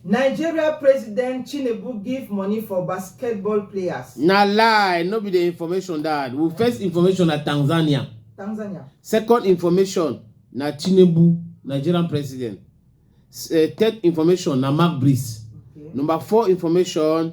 nigeria president tinubu give money for basketball players. na lie no be the information that we first information na tanzania. tanzania. second information na tinubu nigerian president uh, third information na mark breeze okay. number four information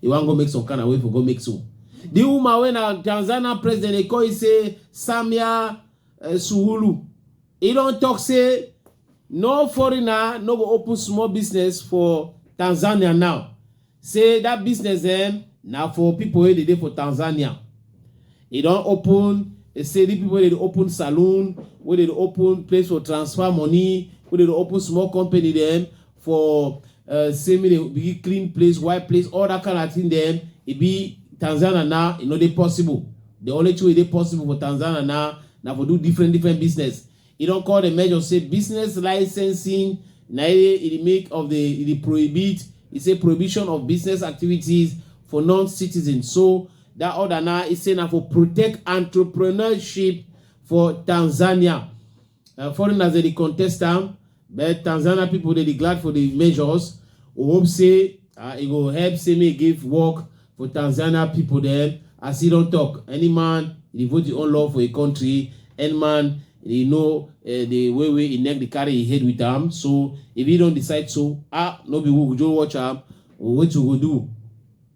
He wan go make some kind of way for go make so. The woman when a Tanzania president they call it say Samia uh, Suhulu. He don't talk say no foreigner no go open small business for Tanzania now. Say that business then eh, now for people wey dey for Tanzania. He don't open e say the people wey dey open saloon, where they open place for transfer money, where they open small company them. for uh, say make dem begin clean place wipe place all that kind of thing dem e be tanzania now e no dey possible the only thing wey dey possible for tanzania now na for do different different business e don call the measure say business licensing na e dey make of the e dey prohibit e say prohibition of business activities for non-citizens so that order now e say na for protect entrepreneurship for tanzania uh, foreigners dey contest am But Tanzania people dey dey glad for the measures. We hope say uh, e go help say make e give work for Tanzania people dem. As he don talk, any man e dey vote him own law for a country, any man e know uh, the way wey e neck dey carry him head with am. So if he don decide so, ah, no be we go just watch am. Wetin we go do?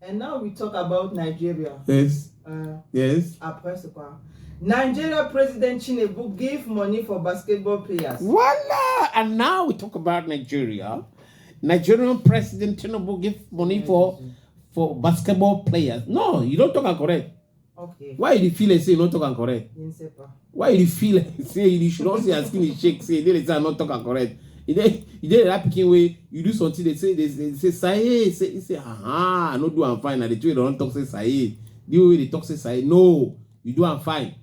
And now we talk about Nigeria. Yes. Uh, yes. Après ce quoi? Nigeria President Tinubu give money for basketball players. Voila! And now we talk about Nigeria. Nigerian President Tinubu give money for for basketball players. No, you don't talk correct. Okay. Why you feel like say you not talk and correct? Why you feel like say you should not say your skin is shake, say they say I'm not talk and correct? You dey you dey that picking way you do something they say they, they say say say say aha no do I'm fine and the two don't talk say say the way they talk say say no you do I'm fine.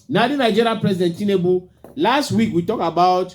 Now the Nigerian president Tinubu last week we talk about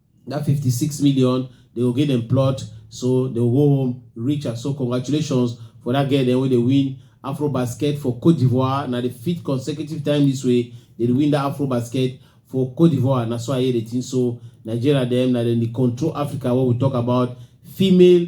that 56 million they go give them plot so they go go home rich and so congratulations for that girl dem wey dey win afro basket for cote d'ivoire na the fifth consecutive time this way they dey win that afro basket for cote d'ivoire na so i hear the thing so nigeria dem na dem dey control africa wey we talk about female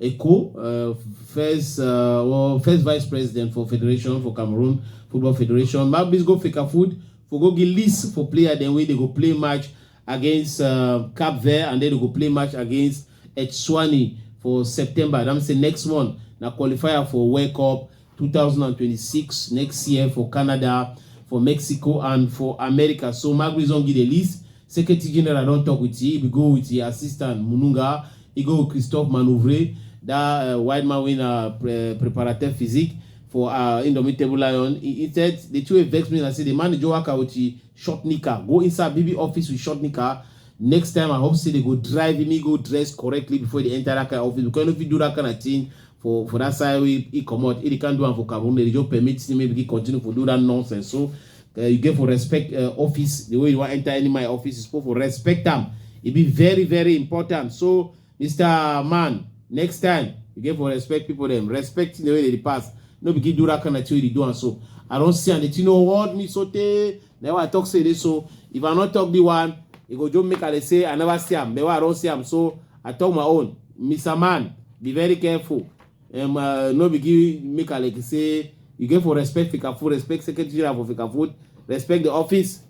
Eko, uh, first uh, well, first vice president for federation for Cameroon Football Federation. Mabis go fake food for go get list for player then way they go play match against uh, Cap Verde and then they go play match against Etswani for September. I'm say next month na qualifier for World Cup two thousand and twenty-six next year for canada for mexico and for america so magri don give the list secretary general don talk with e bin go with e assistant mununga e go with christophe manouvre that uh, white man wey na pre preparateur physique for uh, indomitable lion he, he said the two vex me na say the manager waka with e short knicker go inside bb office with short knicker next time i hope say they go drive him he go dress correctly before they enter that kind of office because you no fit do that kind of thing for for that side wey he comot he dey can do am for Cameroon they just permit him make he continue for do that nonsense so uh, you get for respect uh, office the way you wan enter any my office you suppose for respect am e be very very important so Mr. Man next time you get for respect people dem respect the way they dey pass no be give do that kind of thing wey you dey do am so I don see am the thing no hold me so tey Then I talk say this so if I not talk the one, it go just make I say I never see him. Then I don't see him, so I talk my own. Mr. Man, be very careful. Um, uh, no be give make I like say you get for respect Fika Food, respect Secretary General for Fika Food, respect the office.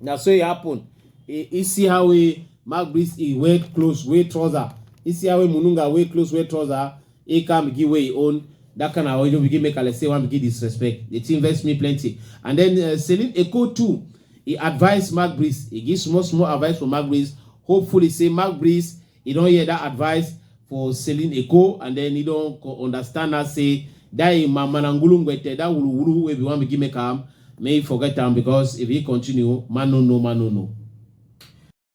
Now so it happen. You see how we Mark Breeze he wear clothes, wear trouser. You see how we Mununga wear clothes, wear trouser. He come begin wey he own that kind of ojo begin make Alexei wan begin disrespect. The thing vex me plenty. And then uh, Celine Eko too, he advise Mark Breeze. He give small small advice for Mark Breeze. Hopefully say Mark Breeze, he don hear that advice for Celine Eko and then he don co- understand now say that him mama na ngulungwete, that wulu wulu wey be wan begin make am, may he forget am because if he continue, man no know, man no know.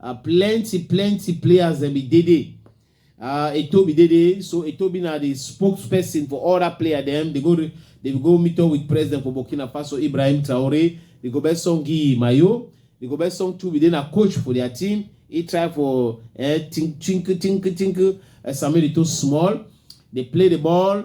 Uh, plenty, plenty players dem be Dede. Uh, Etobi Dede. So Etobi na the spokesperson for all that player dem. They go, re- they will go meet up with president for Burkina Faso, Ibrahim Traore. They go best song Guy Mayo. They go best song too. They na coach for their team. He try for eh, tink, tink, tink, tink. Uh, Samuel Eto'o small. They play the ball.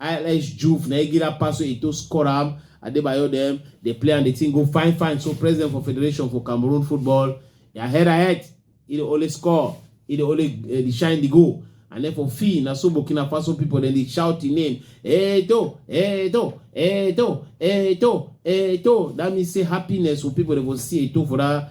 ILS Juve na Egira Paso Eto score am. Adebayo dem dey play and the thing go fine fine. So president for Federation for Cameroon football, their head ahead, he dey only score, he dey only uh, dey shine the goal. And then for fee, na so Burkina Faso people then they shout the name, Eto, Eto, Eto, Eto, Eto. That means say happiness for people they will see Eto for that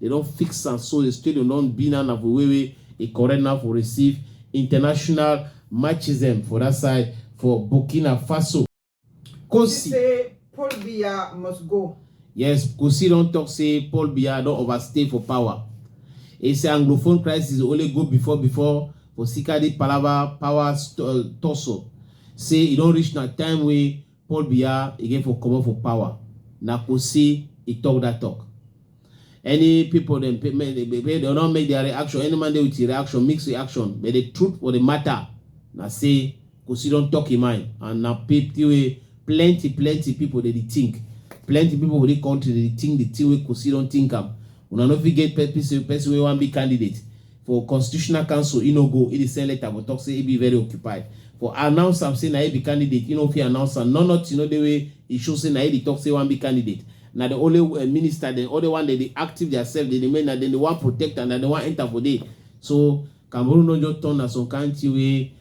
They don fix am so the stadium don be now na for way wey e correct now for receive international matches dem for that side for Burkina Faso. Kosi say Paul Biya must go. Yes, Kosi don talk say Paul Biya don overstay for power. He say Anglophone crisis only go before before for Sikadi Palava power tussle. Say e don reach na time wey Paul Biya again for comot for power na Kosi e talk that talk. Any people dem pay make they pay they not make their reaction. Any man dey with his reaction, mix reaction. But the truth for the matter na say Kosi don talk him mind and na pity wey plenty plenty people dey dey think. Plenty people for the country dey dey think the thing wey Kosi don think am. Una no fit get pe- person person wey wan be candidate. for constitutional council e no go e dey send letter go talk say e be very occupied for announce am say na e be candidate e no fit announce am no nothing no dey wey e show say na e dey talk say e wan be candidate na the only uh, minister dem all the one dem dey active theirself dem dey make na dem dey wan protect and na dem wan enter for there so cameroon no just turn na some kind thing wey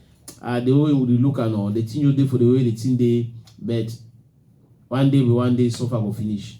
uh, the way we dey look am no the thing just dey for the way the thing dey but one day be one day suffer go finish.